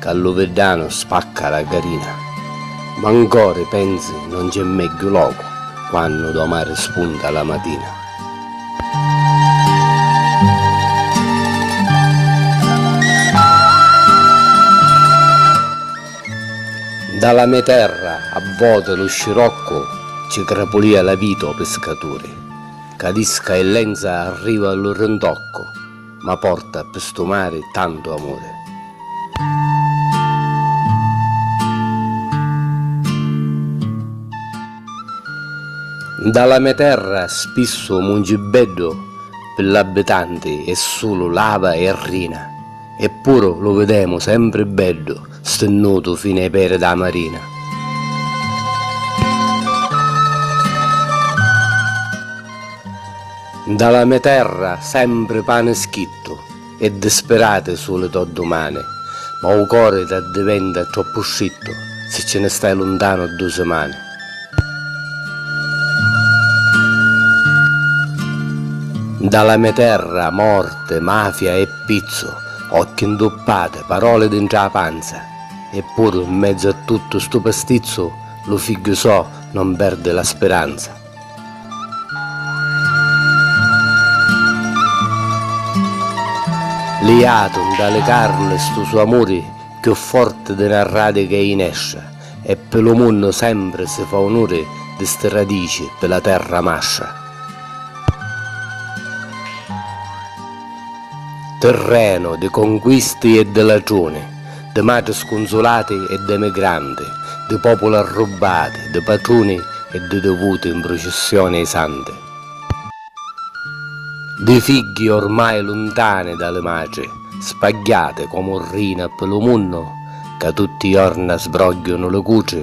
Ca lu viddanu spacca la garina. Ma n cori pensi non c'è megghiu locu quannu do mari spunta la matina. Nta la me terra a voti lu sciroccu ci crapulia la vita o piscaturi, cadisca e lenza arriva lu rintoccu. Ma porta ppi stu mari tantu amuri. Nda la me terra spissu mungi beddu ppi l'abbitanti è sulu lava e rina, eppuru lu videmu sempri beddu stinnutu fini ai peri dâ marina. Nta la me terra sempri pani schittu e dispirati su li to dumani ma u cori t'addiventa troppu strittu si ci ni stai luntanu du simani. Nta la me terra morti, mafia e pizzu, occhi ntuppati, paroli dintra a panza e puru nmezzu a tuttu stu pastizzu lu figghiu so non perdi la spiranza. Liatu nta li carni stu so amuri cchiù forti di na radica i jinestra e pi lu munnu sempri si fa unuri di sti radici pi la terra mastra. Tirrenu di conquisti e di latruni. Di matri scunzulati e d'emigranti, di populi arrubbati, di patruni e di divuti 'n prucissioni ai santi, di figghi ormai luntani da li matri, spagghiati comu rina ppi lu munnu ca tutti i jorna sbrogghiunu li cutri,